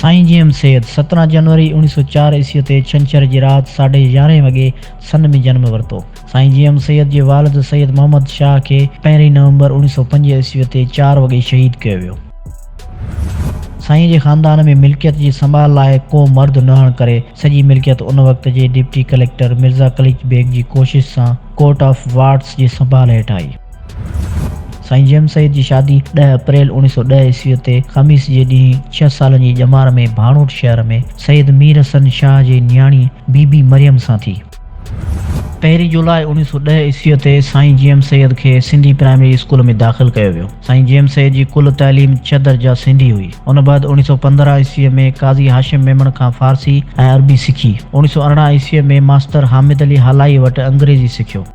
سائين G M Syed, سترهن جنوري اوڻي سؤ چار عيسوي تي ڇنڇر جي رات ساڍي يارهين وڳي سن ۾ جنم ورتو. سائين جي ايم سيد جي والد سيد محمد شاهه کي پهرين نومبر اوڻي سؤ پنج عيسوي تي چار وڳي شهيد ڪيو ويو. سائين جي خاندان ۾ ملڪيت جي سنڀال لاء ڪو مرد نه هئڻ ڪري سڄي ملڪيت ان وقت جي ڊپٽي ڪليڪٽر مرزا قليچ بيگ جي ڪوشش سان ڪورٽ آف وارڊس جي سنڀال هيٺ آئي. سائين جي ايم سيد جي شادي ڏهه اپريل اوڻيهه سؤ ڏهه عيسويء تي خميس جي ڏينهن ڇهه سالن جي ڄمار ۾ ڀاڻوٽ شهر ۾ سيد مير حسن شاهه جي نياڻي بي بي مريم سان ٿي. پهرين جولاء اوڻيهه سؤ ڏهه عيسويء تي سائين جي ايم سيد کي سنڌي پرائمري اسڪول ۾ داخل ڪيو ويو. سائين جي ايم سيد جي ڪل تعليم ڇهه درجا سنڌي هئي. ان بعد اوڻيهه سؤ پندرهن عيسويء ۾ قاضي هاشم ميمڻ کان فارسي ۽ عربي سکي. اوڻيهه سؤ ارڙهن عيسويء ۾ ماستر حامد علي هالائيء وٽ انگريزي سکيو.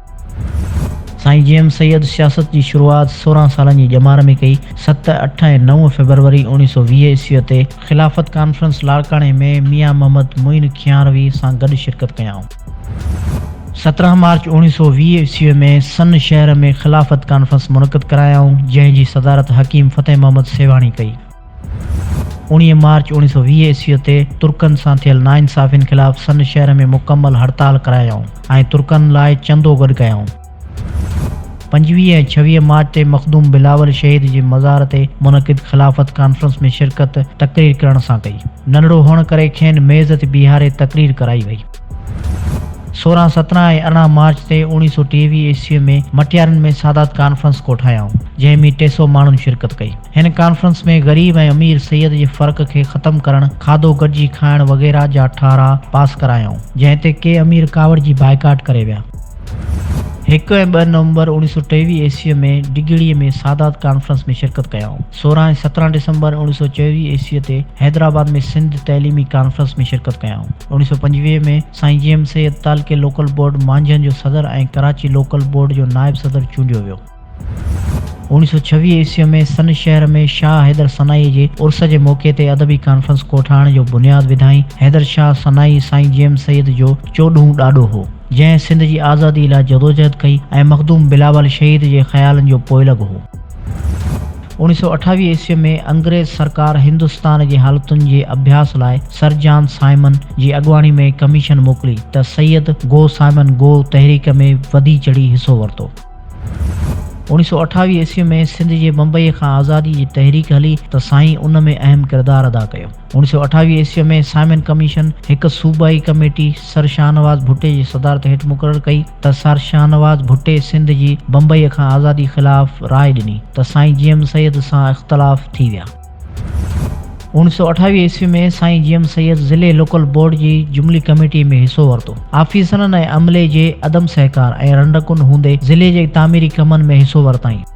سائين جي ايم سيد سياست جي شروعات سورهن سالن جي ڄمار ۾ ڪئي. ست، اٺ ۽ نو فيبروري اوڻيهه سؤ ويهه عيسويء تي خلافت ڪانفرنس لاڙڪاڻي ۾ ميان محمد معين کيانروي سان گڏ شرڪت ڪيائون. سترهن مارچ اوڻيهه سؤ ويهه عيسويء ۾ سن شهر ۾ خلافت ڪانفرنس منعقد ڪرايائون، جنهن جي صدارت حڪيم فتح محمد سيوهاڻي ڪئي. اوڻيهه مارچ اوڻيهه سؤ ويهه عيسويء تي ترڪن سان ٿيل ناانصافين خلاف سن شهر ۾ مڪمل هڙتال ڪرايائون ۽ ترڪن لاء چندو گڏ ڪيائون. پنجويهه ۽ ڇويهه مارچ تي مخدوم بلاول شهيد جي مزار تي منعقد خلافت ڪانفرنس ۾ شرڪت تقرير ڪرڻ سان ڪئي. ننڍڙو هئڻ ڪري کين ميز تي بيهاري تقرير ڪرائي وئي. سورهن، سترهن ۽ ارڙهن مارچ تي اوڻيهه سؤ ٽيويهه عيسوي ۾ مٽيارن ۾ سادات ڪانفرنس ڪوٺايائون، جنهن ۾ ٽي سؤ ماڻهن شرڪت ڪئي. هن ڪانفرنس ۾ غريب ۽ امير سيد جي فرق کي ختم ڪرڻ، کاڌو گڏجي کائڻ وغيره جا ٺهراء پاس ڪرايائون، جنهن تي ڪي امير ڪاوڙجي بائيڪاٽ ڪري ويا. هڪ ۽ ٻه نومبر اوڻيهه سؤ ٽيويهه عيسوي ۾ ڊگهڙي ۾ سادات ڪانفرنس ۾ شرڪت ڪيائون. سورهن ۽ سترهن ڊسمبر اوڻيهه سؤ چويهه عيسويء تي حيدرآباد ۾ سنڌ تعليمي ڪانفرنس ۾ شرڪت ڪيائون. اوڻيهه سؤ پنجويهه ۾ سائين جي ايم سيد تعلقي لوڪل بورڊ مانجهن جو صدر ۽ ڪراچي لوڪل بورڊ جو نائب صدر چونڊيو ويو. اوڻيهه سؤ ڇويهه عيسويء ۾ سن شهر ۾ شاهه حيدر سنائيء جي عرس جي موقعي تي ادبي ڪانفرنس ڪوٺائڻ جو بنياد وڌائين. حيدر شاهه سنائي سائين جي ايم سيد جو چوڏهون ڏاڏو هو. جنهن سنڌ جي آزادي لاء جدوجهد ڪئي ۽ مخدوم بلاول شهيد جي خيالن جو پوئلڳ هو. اوڻيهه سؤ اٺاويهه عيسوي ۾ انگريز سرڪار هندستان جي حالتن جي اڀياس لاء سر جان سائمن جي اڳواڻي ۾ ڪميشن موڪلي ته سيد گو سائمن گو تحريڪ ۾ وڌي چڙهي حصو ورتو. اوڻيهه سؤ اٺاويهه عيسوي ۾ سنڌ جي بمبئيء کان آزادي جي تحريڪ هلي ته سائين ان ۾ اهم ڪردار ادا ڪيو. اوڻ سؤ اٺاويهه عيسويء ۾ سائمن ڪميشن هڪ صوبائي ڪميٽي سر شاهنواز ڀٽي جي صدارت هيٺ مقرر ڪئي ته سر شاهنواز ڀٽي سنڌ جي بمبئيء کان آزادي خلاف راء ڏني ته سائين جي ايم سيد سان اختلاف ٿي ويا. اوڻ سؤ اٺاويهه عيسويء ۾ سائين جي ايم سيد ضلعي لوڪل بورڊ جي جملي ڪميٽيء ۾ حصو ورتو. آفيسرن ۽ عملي جي عدم سهڪار ۽ رنڊڪن هوندي ضلعي جي تعميري ڪمن ۾ حصو ورتائين.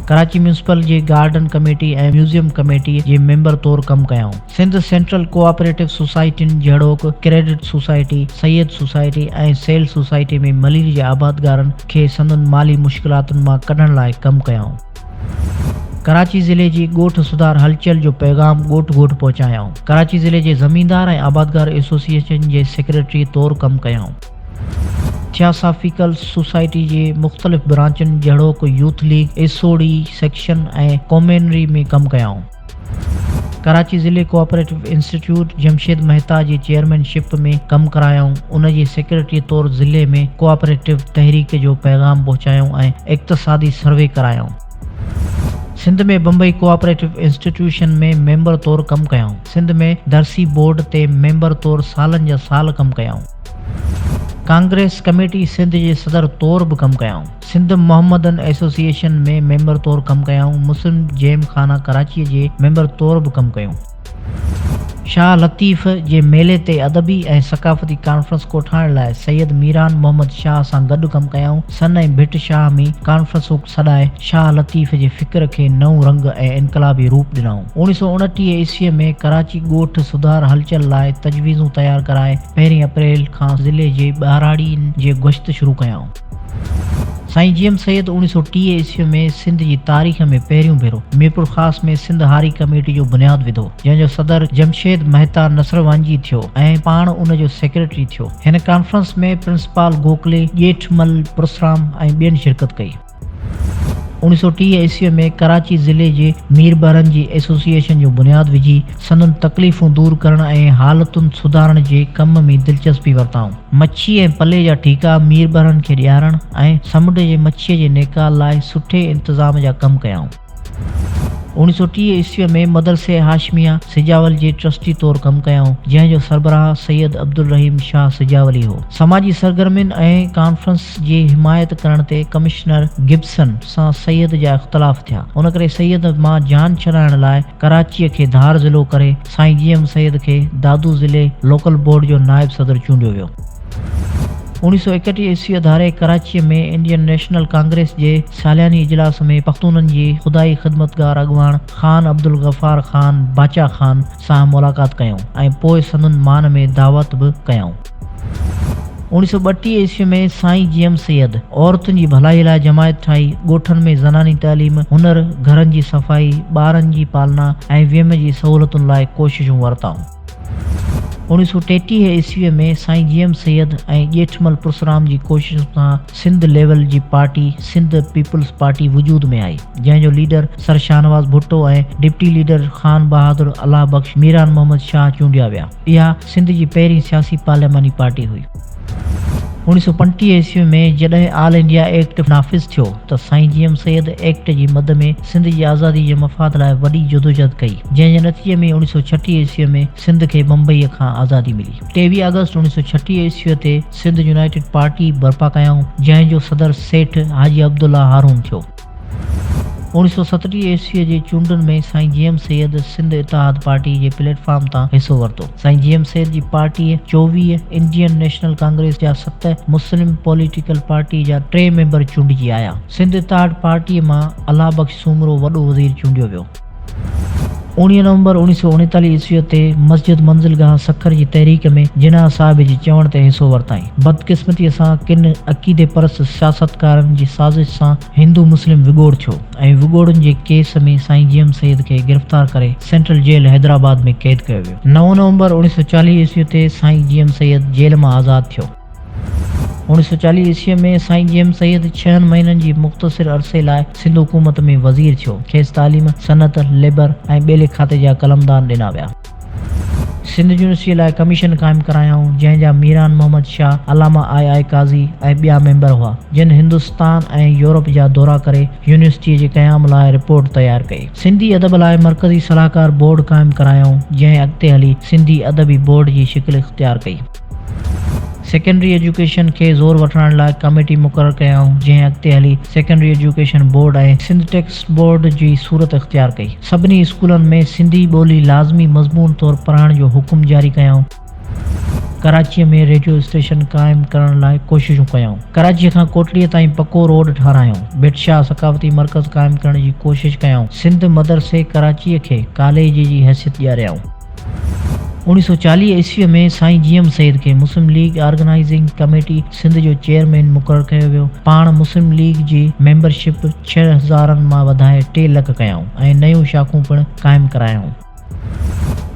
ڪراچي ميونسپل جي گارڊن ڪميٽي ۽ ميوزيم ڪميٽي جي ميمبر طور ڪم ڪيائون. سنڌ سينٽرل ڪوآپريٽو سوسائٽين جهڙوڪ، credit society, seed society ۽ sale society ۾ Malir جي آبادگارن کي سندن مالي مشڪلاتن مان ڪڍڻ لاء ڪم ڪيائون. ڪراچي ضلعي جي ڳوٺ سڌار هلچل جو پيغام ڳوٺ ڳوٺ پهچايائون. ڪراچي ضلعي جي زميندار ۽ آبادگار ايسوسيئيشن جي سيڪريٽري طور ڪم ڪيائون. ٿياسافيڪل سوسائٽي جي مختلف برانچن جهڙوڪ يوٿ ليگ، ايسوڙي، سيڪشن ۽ ڪومينري ۾ ڪم ڪيائون. ڪراچي ضلعي ڪوآپريٽو انسٽيٽيوٽ جمشيد مهتا جي چيئرمين شپ ۾ ڪم ڪرايائون. ان جي سيڪريٽري طور ضلعي ۾ ڪوآپريٽو تحريڪ جو پيغام پهچايائون ۽ اقتصادي سروي ڪرايائون. Sindh ۾ Bombay cooperative institution ۾ member طور ڪم ڪيائون. سنڌ ۾ درسي بورڊ تي ميمبر طور سالن جا سال ڪم ڪيائون. ڪانگريس ڪميٽي سنڌ جي صدر طور به ڪم ڪيائون. سنڌ محمدن ايسوسيئيشن ۾ ميمبر طور ڪم ڪيائون. مسلم جيم خانه ڪراچيء جي ميمبر طور به ڪم ڪيون. شاهه لطيف جي ميلي تي ادبي ۽ ثقافتي ڪانفرنس ڪوٺائڻ لاء سيد ميران محمد شاهه سان گڏ ڪم ڪيائون. سن ۽ ڀٽ شاهه ۾ ڪانفرنس سڏائي شاهه لطيف جي فڪر کي نئون رنگ ۽ انقلابي روپ ڏنائون. اوڻي سؤ اڻٽيهه عيسويء ۾ ڪراچي ڳوٺ سڌار هلچل لاء تجويزون تيار ڪرائي پهرين اپريل کان ضلعي جي ٻهراڙين جي گشت شروع ڪيائون. سائين جي ايم سيد اوڻي سؤ ٽيهه عيسويء ۾ سنڌ جي تاريخ ۾ پهريون ڀيرو ميرپورخاص ۾ سنڌ هاري ڪميٽي جو بنياد وڌو، جنهن جو صدر جمشيد مهتا نصروانجي ٿيو ۽ پاڻ ان جو سيڪريٽري ٿيو. هن ڪانفرنس ۾ پرنسپال گوکلي، ڄيٺ مل، پرسرام ۽ ٻين شرڪت ڪئي. اوڻيھ سؤ ٽيهه عيسويء ۾ ڪراچي ضلعي جي مير ٻارن جي ايسوسيئيشن جو بنياد وجهي، سندن تڪليفون دور ڪرڻ ۽ حالتن سڌارڻ جي ڪم ۾ دلچسپي ورتائون. مڇي ۽ پلي جا ٺيڪا مير ٻارن کي ڏيارڻ ۽ سمنڊ جي مڇيء جي نيڪال لاء سٺي انتظام جا ڪم ڪيائون. اوڻيھ سؤ ٽيهه عيسويء ۾ مدرسه هاشميه سجاول جي ٽرسٽي طور ڪم ڪيائون، جنهن جو سربراهه سيد عبدالرحيم شاهه سجاولي هو. سماجي سرگرمين ۽ ڪانفرنس جي حمايت ڪرڻ تي ڪمشنر گبسن سان سيد جا اختلاف ٿيا. ان ڪري سيد مان جان ڇڏائڻ لاء ڪراچيء کي ڌار ضلعو ڪري سائين جي ايم سيد کي دادو ضلعي لوڪل بورڊ جو نائب صدر چونڊيو ويو. اوڻيهه سؤ ايڪٽيهه عيسويء ڌاري ڪراچيء ۾ انڊين نيشنل ڪانگريس جي سالياني اجلاس ۾ پختونن جي خدائي خدمتگار اڳواڻ خان عبدالغفار خان باچا خان سان ملاقات ڪيائون ۽ پوء سندن مان ۾ دعوت به ڪيائون. اوڻيهه سؤ ٻٽيهه عيسويء ۾ سائين جي ايم سيد عورتن جي ڀلائيء لاء جماعت ٺاهي، ڳوٺن ۾ زناني تعليم، هنر، گهرن جي صفائي، ٻارن جي پالنا ۽ ويم جي سهولتن لاء ڪوششون ورتائون. اوڻيھ سؤ ٽيٽيهه عيسويء ۾ سائين جي ايم سيد ۽ ڄيٺمل پرسرام جي ڪوششن سان سنڌ ليول جي پارٽي سنڌ پيپلز پارٽي وجود ۾ آئي، جنهن جو leader sir Shahnawaz Bhutto ۽ deputy leader Khan Bahadur Allah Bakhsh Miran Muhammad Shah چونڊيا ويا. اها سنڌ جي پهرين سياسي پارلياماني پارٽي هئي. اوڻيھ سؤ پنجٽيهه عيسويء ۾ جڏهن آل انڊيا ايڪٽ نافذ ٿيو ته سائين جي ايم سيد ايڪٽ جي مد ۾ سنڌ جي آزادي جي مفاد لاء وڏي جدوجھد ڪئي، جنهن جي نتيجي ۾ اوڻيھ سؤ ڇٽيھ عيسويء ۾ سنڌ کي بمبئيء کان آزادي ملي. ٽيويھ آگسٽ اوڻيھ سؤ ڇٽيھ عيسويء تي سنڌ يونائيٽيڊ پارٽي برپا ڪيائون، جنهن جو صدر سيٺ حاجي عبدالله هارون ٿيو. اوڻيھ سؤ ستٽيھ عيسويء جي چونڊن ۾ سائين جي ايم سيد سنڌ اتحاد پارٽيء جي پليٽ فارم تان حصو ورتو. سائين جي ايم سيد جي پارٽيء چوويھ، انڊين نيشنل ڪانگريس جا ست، مسلم پوليٽيڪل پارٽيء جا ٽي ميمبر چونڊجي آيا. سنڌ اتحاد پارٽيء مان الله بخش سومرو وڏو وزير چونڊيو ويو. اوڻيهه نومبر اوڻيهه سؤ اڻيتاليهه عيسويء تي مسجد منزل گاهه سکر جي تحريڪ ۾ جناح صاحب جي چوڻ تي حصو ورتائين. بدقسمتيء سان ڪن عقيدي پرست سياستڪارن جي سازش سان هندو مسلم وڳوڙ ٿيو ۽ وڳوڙن جي ڪيس ۾ سائين جيئم سيد کي گرفتار ڪري سينٽرل جيل حيدرآباد ۾ قيد ڪيو ويو. نو نومبر اوڻيهه سؤ چاليهه عيسويء تي سائين جيئم سيد جيل مان آزاد ٿيو. اوڻيھ سؤ چاليھ عيسويء ۾ سائين جي ايم سيد ڇهن مهينن جي مختصر عرصي لاء سنڌ حڪومت ۾ وزير ٿيو. کيس تعليم، صنعت، ليبر ۽ ٻيلي کاتي جا قلمدان ڏنا ويا. سنڌ يونيورسٽيء لاء ڪميشن قائم ڪرايائون، جنهن جا ميران محمد شاهه، علامه آء آء قاضي ۽ ٻيا ميمبر هئا، جن هندستان ۽ يورپ جا دورا ڪري يونيورسٽيء جي قيام لاء رپورٽ تيار ڪئي. سنڌي ادب لاء مرڪزي صلاحڪار بورڊ قائم ڪرايائون، جنهن اڳتي هلي سنڌي ادبي بورڊ جي شڪل اختيار ڪئي. سيڪنڊري ايجوڪيشن کي زور وٺرائڻ لاء ڪميٽي مقرر ڪيائون جنهن اڳتي هلي secondary education board ۽ Sindh text board جي صورت اختيار ڪئي. سڀني اسڪولن ۾ سنڌي ٻولي لازمي مضمون طور پڙهائڻ جو حڪم جاري ڪيائون. ڪراچيء ۾ ريڊيو اسٽيشن قائم ڪرڻ لاء ڪوششون ڪيائون. ڪراچيء کان ڪوٽڙيء تائين پڪو روڊ ٺارايائون. ڀٽ شاهه ثقافتي مرڪز قائم ڪرڻ جي ڪوشش ڪيائون. سنڌ مدرسي ڪراچيء کي ڪاليج جي حيثيت ڏياريائون. اوڻيهه سؤ چاليهه عيسويء ۾ سائين جي ايم سيد کي مسلم ليگ آرگنائيزنگ ڪميٽي سنڌ جو چيئرمين مقرر ڪيو ويو. پاڻ مسلم ليگ جي ميمبر شپ ڇهه هزارن مان وڌائي ٽي لک ڪيائون ۽ نيون شاخون پڻ قائم ڪرايائون.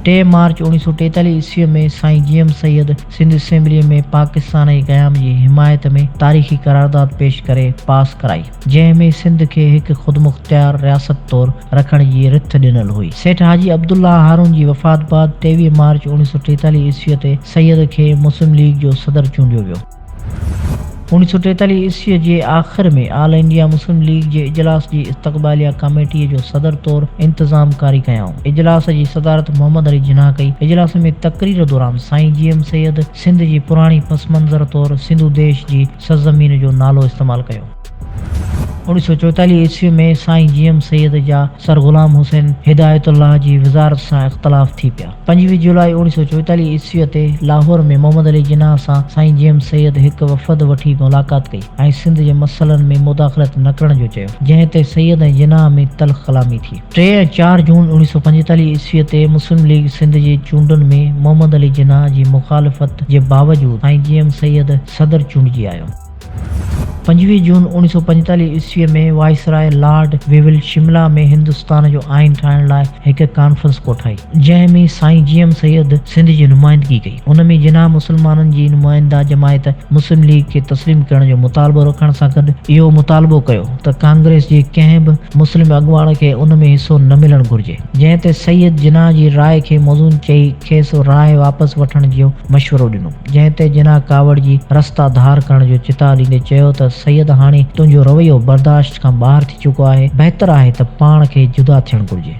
ٽي مارچ اوڻيهه سؤ ٽيتاليهه عيسويء ۾ سائين جي ايم سيد سنڌ اسيمبليء ۾ پاڪستان ۽ قيام جي حمايت ۾ تاريخي قرارداد پيش ڪري پاس ڪرائي. جنهن ۾ سنڌ کي هڪ خودمختيار رياست طور رکڻ جي رٿ ڏنل هئي. سيٺ حاجي عبدالله هارون جي وفات بعد ٽيويهه مارچ اوڻيهه سؤ ٽيتاليهه عيسويء تي سيد کي مسلم ليگ جو صدر چونڊيو ويو. اوڻيهه سؤ ٽيتاليهه عيسويء جي آخر ۾ آل انڊيا مسلم ليگ جي اجلاس جي استقباليه ڪاميٽيء جو صدر طور انتظام ڪاري ڪيائون. اجلاس جي صدارت محمد علي جناح ڪئي. اجلاس ۾ تقرير دوران سائين جي ايم سيد سنڌ جي پراڻي پس منظر طور سنڌو ديش جي سرزمين جو نالو استعمال ڪيو. اوڻيھ سؤ چويتاليھ عيسوي ۾ سائين جي ايم سيد جا سر غلام حسين هدايت الله جي وزارت سان اختلاف ٿي پيا. پنجويھ جولاء اوڻيھ سؤ چويتاليھ عيسويء تي لاهور ۾ محمد علي جناح سان سائين جي ايم سيد هڪ وفد وٺي ملاقات ڪئي ۽ سنڌ جي مسئلن ۾ مداخلت نه ڪرڻ جو چيو، جنهن تي سيد ۽ جناح ۾ تلخ ڪلامي ٿي. ٽي ۽ چار جون اوڻيھ سؤ پنجيتاليھ عيسويء تي مسلم ليگ سنڌ جي چونڊن ۾ محمد علي جناح جي مخالفت جي باوجود سائين جي ايم سيد صدر چونڊجي آيو. پنجويهه جون اوڻيهه سؤ پنجيتاليهه عيسويء ۾ viceroy lord Wavell Shimla ۾ Hindustan جو آئين ٺاهڻ لاء هڪ ڪانفرنس ڪوٺائي، جنهن ۾ سائين جي ايم سيد سنڌ جي نمائندگي ڪئي. ان ۾ جناح مسلمانن جي نمائنده جماعت مسلم ليگ کي تسليم ڪرڻ جو مطالبو رکڻ سان گڏ اهو مطالبو ڪيو ته ڪانگريس جي ڪنهن به مسلم اڳواڻ کي ان ۾ حصو نه ملڻ گهرجي، جنهن تي سيد جناح جي راء کي موزون چئي کيس راء واپس وٺڻ جو مشورو ڏنو. جنهن تي جناح ڪاوڙ جي رستا ڌار ڪرڻ جو چتاء ڏيندي چيو ته سيد هاڻي تنهنجو رويو برداشت کان ٻاهر ٿي چڪو آهي، بهتر آهي ته پاڻ کي جدا ٿيڻ گهرجي.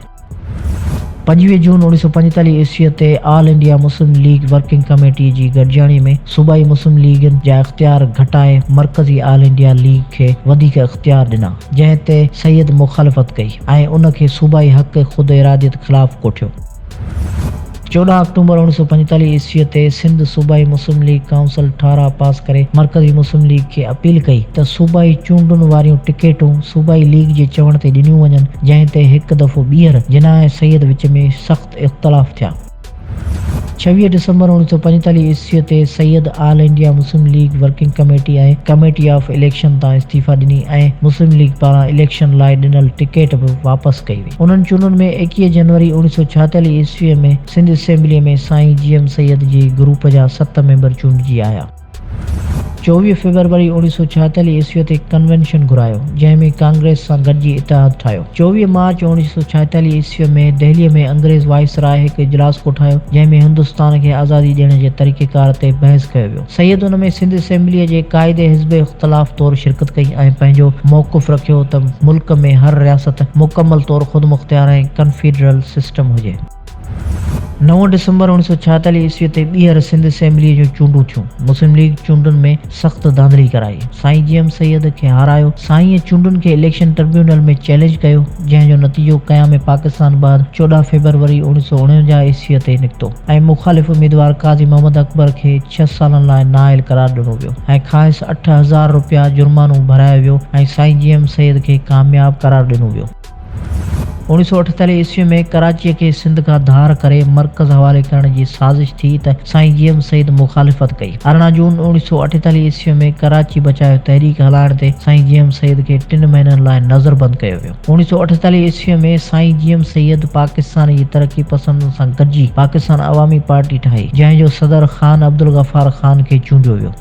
پنجويهه جون اڻويهه سؤ پنجيتاليهه عيسويء تي آل انڊيا مسلم ليگ ورڪنگ ڪميٽيء جي گڏجاڻي ۾ صوبائي مسلم ليگن جا اختيار گهٽائي مرڪزي آل انڊيا ليگ کي وڌيڪ اختيار ڏنا، جنهن تي سيد مخالفت ڪئي ۽ ان کي صوبائي حق خود اراديت خلاف ڪوٺيو. چوڏهن آڪٽوبر اوڻ سؤ پنجيتاليهه عيسويء تي سنڌ صوبائي مسلم ليگ ڪائونسل ٺهراء پاس ڪري مرڪزي مسلم ليگ کي اپيل ڪئي ته صوبائي چونڊن واريون ٽڪيٽون صوبائي ليگ جي چوڻ تي ڏنيون وڃن جنهن تي هڪ دفعو ٻيهر جناح ۽ سيد وچ ۾ سخت اختلاف ٿيا. ڇويهه ڊسمبر اوڻ سؤ پنجيتاليهه عيسويء تي Syed All India Muslim League working committee ۽ committee of election تان استعيفا ڏني ۽ مسلم ليگ پاران اليڪشن لاء ڏنل ٽڪيٽ به واپس ڪئي وئي. انهن چونڊن ۾ ايڪيهه جنوري اوڻيهه سؤ ڇاهيتاليهه عيسويء ۾ سنڌ اسيمبليء ۾ سائين جي ايم سيد جي گروپ جا ست ميمبر چونڊجي آيا. چوويهه فيبروري اوڻيهه سؤ ڇاهيتاليهه عيسويء تي ڪنوينشن گهرايو، جنهن ۾ ڪانگريس سان گڏجي اتحاد ٺاهيو. چوويهه مارچ اوڻيهه سؤ ڇاهيتاليهه عيسويء ۾ دهليء ۾ انگريز وائسراء هڪ اجلاس ڪوٺايو، جنهن ۾ هندستان کي آزادي ڏيڻ جي طريقيڪار تي بحث ڪيو ويو. سيد ان ۾ سنڌ اسيمبليء جي قائد حزب اختلاف طور شرڪت ڪئي ۽ پنهنجو موقف رکيو ته ملڪ ۾ هر رياست مڪمل طور خودمختيار ۽ ڪنفيڊرل سسٽم هجي. نو ڊسمبر اوڻيھ سؤ ڇايتاليھ عيسويء تي ٻيهر سنڌ اسيمبليء جون چونڊون ٿيون. مسلم ليگ چونڊن ۾ سخت ڌانڌلي ڪرائي، سائين جي ايم سيد کي هارايو. سائينء چونڊن کي اليڪشن ٽربيونل ۾ چئلينج ڪيو، جنهن جو نتيجو قيام پاڪستان بعد چوڏهن فيبروري اوڻيھ سؤ اڻونجاھ عيسويء تي نڪتو. ۽ مخالف اميدوار قاضي محمد اڪبر کي ڇهه سالن لاء نااهل قرار ڏنو ويو ۽ کانئس اٺ هزار رپيا جرمانو ڀرايو ويو ۽ سائين جي ايم سيد کي ڪامياب قرار ڏنو ويو. اوڻيهه سؤ اٺيتاليهه عيسوي ۾ ڪراچيء کي سنڌ کان ڌار ڪري مرڪز حوالي ڪرڻ جي سازش ٿي ته سائين جي ايم سيد مخالفت ڪئي. ارڙهن جون اوڻيهه سؤ اٺيتاليهه عيسوي ۾ ڪراچي بچايو تحريڪ هلائڻ تي سائين جي ايم سيد کي ٽن مهينن لاء نظربند ڪيو ويو. اوڻيهه سؤ اٺيتاليهه عيسويء ۾ سائين جي ايم سيد پاڪستان جي ترقي پسندن سان گڏجي پاڪستان عوامي پارٽي ٺاهي، جنهن جو صدر خان عبدالغفار خان کي چونڊيو ويو.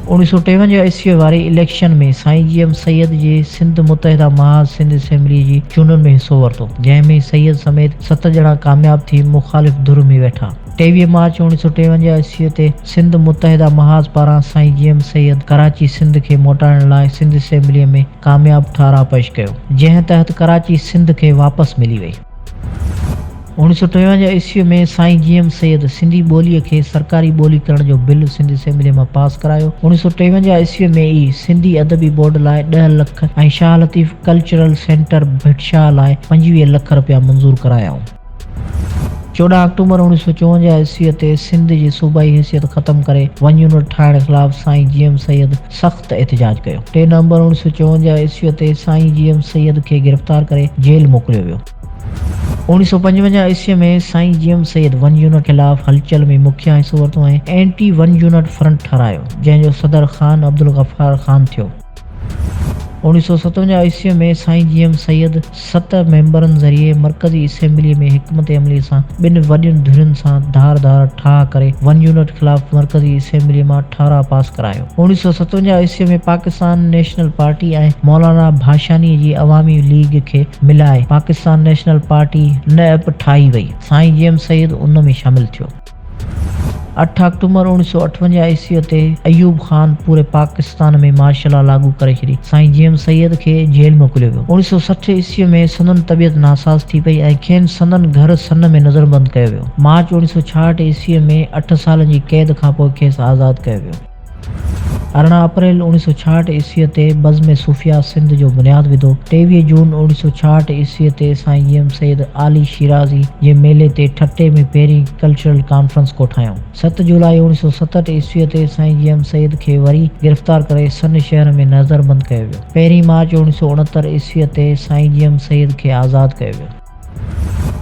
اوڻيهه سؤ ٽيونجاهه عيسويء واري اليڪشن ۾ سائين جي ايم سيد جي سنڌ متحده محاذ سنڌ اسيمبليء جي چونڊن ۾ حصو ورتو، جنهن ۾ سيد سميت ست ڄڻا ڪامياب ٿي مخالف ڌر ۾ ويٺا. ٽيويهه مارچ اوڻيهه سؤ ٽيونجاهه عيسويء تي سنڌ متحده محاذ پاران سائين جي ايم سيد ڪراچي سنڌ کي موٽائڻ لاء سنڌ اسيمبليء ۾ ڪامياب ٺهراء پيش ڪيو، جنهن تحت ڪراچي سنڌ کي واپس ملي وئي. اوڻيھ سؤ ٽيونجاھ عيسويء ۾ سائين جي ايم سيد سنڌي ٻوليء کي سرڪاري ٻولي ڪرڻ جو بل سنڌ اسيمبليء مان پاس ڪرايو. اوڻيھ سؤ ٽيونجاھ عيسويء ۾ ئي سنڌي ادبي بورڊ لاء ڏهه لک ۽ شاهه لطيف ڪلچرل سينٽر ڀٽشاهه لاء پنجويهه لک رپيا منظور ڪرايائون. چوڏهن آڪٽوبر اوڻيهه سؤ چونجاهه عيسويء تي سنڌ جي صوبائي حيثيت ختم ڪري ون يونٽ ٺاهڻ خلاف سائين جي ايم سيد سخت احتجاج ڪيو. ٽي نومبر اوڻيهه سؤ چونجاهه عيسويء تي سائين جي ايم سيد کي گرفتار ڪري جيل موڪليو ويو. اوڻيهه سؤ پنجونجاهه عيسويء ۾ سائين G M Syed one unit خلاف هلچل ۾ مکيه حصو ورتو ۽ اينٽي ون يونٽ فرنٽ ٺهرايو، جنهن جو صدر خان عبدالغفار خان ٿيو. اوڻيھ سؤ ستونجاھ عيسويء ۾ سائين جي ايم سيد ست ميمبرن ذريعي مرڪزي اسيمبليء ۾ حڪمت عمليء سان ٻن وڏين ڌرين سان ڌار ڌار ٺاهه ڪري ون يونٽ خلاف مرڪزي اسيمبليء مان ٺهراء پاس ڪرايو. اوڻيھ سؤ ستونجاھ عيسويء ۾ پاڪستان نيشنل پارٽي ۽ مولانا ڀاشانيء جي عوامي ليگ کي ملائي پاڪستان نيشنل پارٽي، ن اپ، ٺاهي وئي. سائين جي ايم سيد ان ۾ شامل ٿيو. اٺ آڪٽومبر اوڻيھ سؤ اٺونجاھ عيسويء تي ايوب خان پوري پاڪستان ۾ مارشل لا لاڳو ڪري ڇڏي. سائين جي ايم سيد کي جيل موڪليو ويو. اوڻيھ سؤ سٺ عيسويء ۾ سندن طبيعت ناساز ٿي پئي ۽ کين سندن گهر سن ۾ نظربند ڪيو ويو. مارچ اوڻيھ سؤ ڇاهٺ عيسويء ۾ اٺ سالن جي قيد کانپوء کيس آزاد ڪيو ويو. ارڙهن اپريل اوڻيھ سؤ ڇاهٺ عيسويء تي بزم صوفياء سنڌ جو بنياد وڌو. ٽيويهه جون اوڻيھ سؤ ڇاهٺ عيسويء تي سائين جيئم سيد عالي شيرازي جي ميلي تي ٺٽي ۾ پهرين ڪلچرل ڪانفرنس ڪوٺايائون. ست جولاء اوڻيھ سؤ ستهٺ عيسويء تي سائين جيئم سيد کي وري گرفتار ڪري سن شهر ۾ نظربند ڪيو ويو. پهرين مارچ اوڻيھ سؤ اڻهتر عيسويء تي سائين جيئم سيد کي آزاد ڪيو ويو.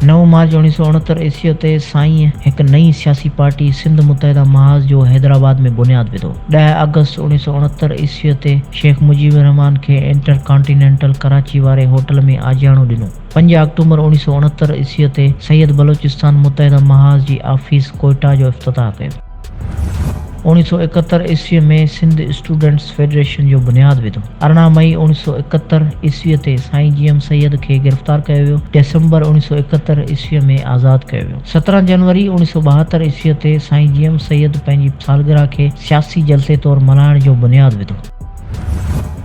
نو مارچ اڻويهه سؤ اڻهتر عيسويء تي سائينء هڪ نئين سياسي پارٽي سنڌ متحده محاذ جو حيدرآباد ۾ بنياد وڌو. ڏهه آگسٽ اڻويهه سؤ اڻهتر عيسويء تي شيخ مجيب الرحمان کي انٽر ڪانٽينينٽل ڪراچي واري هوٽل ۾ آجياڻو ڏنو. پنج آڪٽومبر اڻويهه سؤ اڻهتر عيسويء تي سيد بلوچستان متحده محاذ جي آفيس ڪوئيٽا جو افتتاح ڪيو. اوڻيھ سؤ ايڪهتر عيسويء ۾ سنڌ اسٽوڊنٽس فيڊريشن جو بنياد وڌو. ارڙهن مئي اوڻيھ سؤ ايڪهتر عيسويء تي سائين جي ايم سيد کي گرفتار ڪيو ويو. ڊسمبر اوڻيھ سؤ ايڪهتر عيسويء ۾ آزاد ڪيو ويو. سترهن جنوري اوڻيھ سؤ ٻاهتر عيسويء تي سائين جي ايم سيد پنهنجي سالگرهه کي سياسي جلسي طور ملهائڻ جو بنياد وڌو.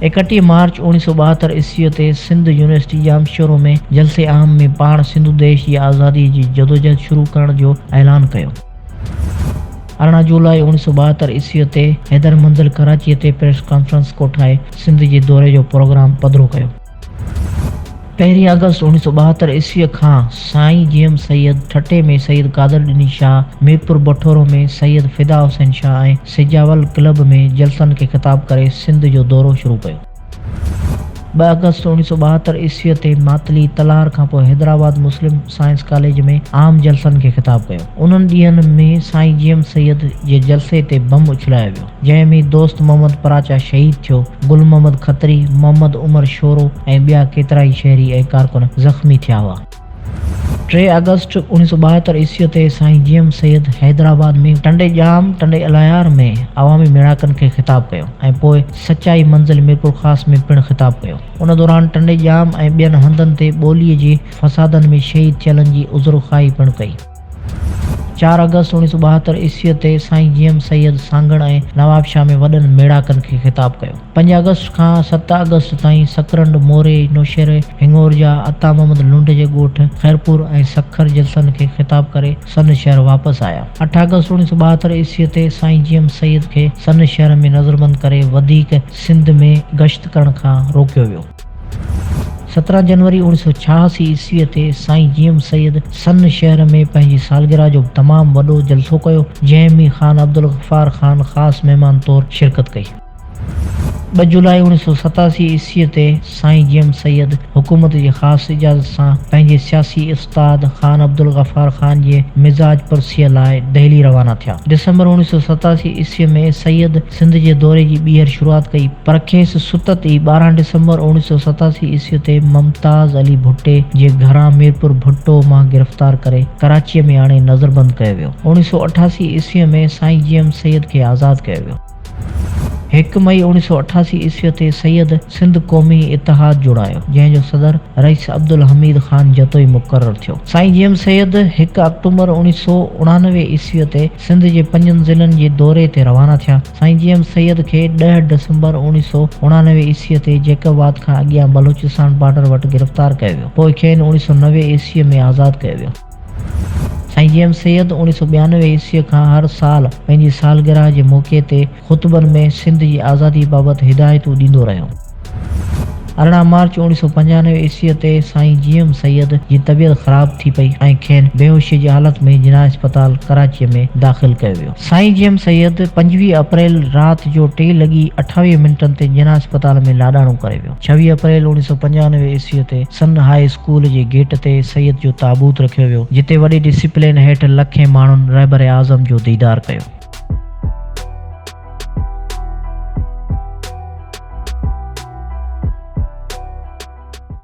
ايڪٽيهه مارچ اوڻيھ سؤ ٻاهتر عيسويء تي سنڌ يونيورسٽي ڄامشورو ۾ جلسي عام ۾ پاڻ سنڌوديش جي آزاديء جي جدوجهد شروع ڪرڻ جو اعلان ڪيو. ارڙهن جولاء اوڻيهه سؤ ٻاهتر عيسويء تي حيدر منزل ڪراچيء تي پريس ڪانفرنس ڪوٺائي سنڌ جي دوري جو پروگرام پڌرو ڪيو. پهرين آگسٽ اوڻيهه سؤ ٻاهتر عيسويء کان سائين G M Syed, Thatta ۾ Syed Qadir Dino Shah, Mirpur Bathoro ۾ Syed Fida Hussain Shah ۽ Sujawal club ۾ جلسن کي خطاب ڪري سنڌ جو دورو شروع ڪيو. ٻه آگسٽ اوڻيهه سؤ ٻاهتر عيسويء تي ماتلي تلهار کان پوء حيدرآباد مسلم سائنس ڪاليج ۾ عام جلسن کي خطاب ڪيو. انهن ڏينهن ۾ سائين جي ايم سيد جي جلسي تي بم اڇلايو ويو، جنهن ۾ دوست محمد پراچا شهيد ٿيو، گل محمد کتري، محمد عمر شورو ۽ ٻيا ڪيترائي شهري ۽ ڪارڪن زخمي ٿيا هئا. ٽي آگسٽ اڻيهه سؤ ٻاهتر عيسويء تي سائين جي ايم سيد حيدرآباد ۾ ٽنڊي ڄام، ٽنڊي الايار، ۾ عوامي ميڙاڪن کي خطاب ڪيو ۽ پوء سچائي منزل ميرپورخاص ۾ پڻ خطاب ڪيو. ان دوران ٽنڊي ڄام ۽ ٻين هنڌن تي ٻوليء جي فسادن ۾ شهيد ٿيلن جي عذرخواهي پڻ ڪئي. چار آگسٽ اوڻيهه سؤ ٻاهتر عيسويء تي سائين جي ايم سيد سانگهڙ ۽ نوابشاهه ۾ وڏن ميڙاڪن کي خطاب ڪيو. پنج آگسٽ کان ست آگسٽ تائين سڪرنڊ، موري، نوشهري، هڱورجا، عطا محمد لنڊ جي ڳوٺ خيرپور ۽ سکر جلسن کي خطاب ڪري سن شهر واپس آيا. اٺ آگسٽ اوڻيهه سؤ ٻاهتر عيسويء تي سائين جي ايم سيد کي سن شهر ۾ نظربند ڪري وڌيڪ سنڌ ۾ گشت ڪرڻ کان روڪيو ويو. سترهن جنوري اوڻيھ سؤ ڇهاسي عيسويء تي سائين جي ايم سيد سن شهر ۾ پنهنجي سالگرهه جو تمام وڏو جلسو ڪيو، جنهن ۾ خان عبدالغفار خان خاص مهمان طور شرڪت ڪئي. ٻه جولاء اوڻيھ سؤ ستاسي عيسويء تي سائين جي ايم سيد حڪومت جي خاص اجازت سان پنهنجي سياسي استاد خان عبدالغفار خان جي مزاج پرسيء لاء دهلي روانا ٿيا. ڊسمبر اوڻيهه سؤ ستاسي عيسويء ۾ سيد سنڌ جي دوري جي ٻيهر شروعات ڪئي، پر کيس ستت ئي ٻارهن ڊسمبر اوڻيهه سؤ ستاسي عيسويء تي ممتاز علي ڀٽي جي گهران ميرپور ڀٽو مان گرفتار ڪري ڪراچيء ۾ آڻي نظربند ڪيو ويو. اوڻيهه سؤ اٺاسي عيسويء ۾ سائين جي ايم سيد کي آزاد ڪيو ويو. هڪ مئي اوڻيهه سؤ اٺاسي عيسويء تي سيد سنڌ قومي اتحاد جوڙايو، جنهن جو صدر رئيس عبدالحميد خان جتوئي مقرر ٿيو. سائين جي ايم سيد هڪ آڪٽومبر اوڻيهه سؤ اڻانوي عيسويء تي سنڌ جي پنجن ضلعن جي دوري تي روانا ٿيا. سائين جي ايم سيد کي ڏهه ڊسمبر اوڻيهه سؤ اڻانوي عيسويء تي جيڪب آباد کان اڳيان بلوچستان بارڊر وٽ گرفتار ڪيو ويو. پوء کين اوڻيهه سؤ نوي عيسويء ۾ آزاد ڪيو ويو. سائين جي ايم سيد اوڻيھ سؤ ٻيانوي عيسويء کان هر سال پنهنجي سالگرهه جي موقعي تي خطبن ۾ سنڌ جي آزادي بابت هدايتون ڏيندو رهيو. ارڙهن مارچ اوڻيھ سؤ پنجانوي عيسويء تي سائين جي ايم سيد جي طبيعت خراب ٿي پئي ۽ کين بيهوشيء جي حالت ۾ جناح اسپتال ڪراچيء ۾ داخل ڪيو ويو. سائين جي ايم سيد پنجويهه اپريل رات جو ٽي لڳي اٺاويهه منٽن تي جناح اسپتال ۾ لاڏاڻو ڪري ويو. ڇويهه اپريل اوڻيهه سؤ پنجانوي عيسويء تي سن هاء اسڪول جي گيٽ تي سيد جو تابوت رکيو ويو، جتي وڏي ڊسيپلين هيٺ لکين ماڻهن رهبر اعظم جو ديدار ڪيو.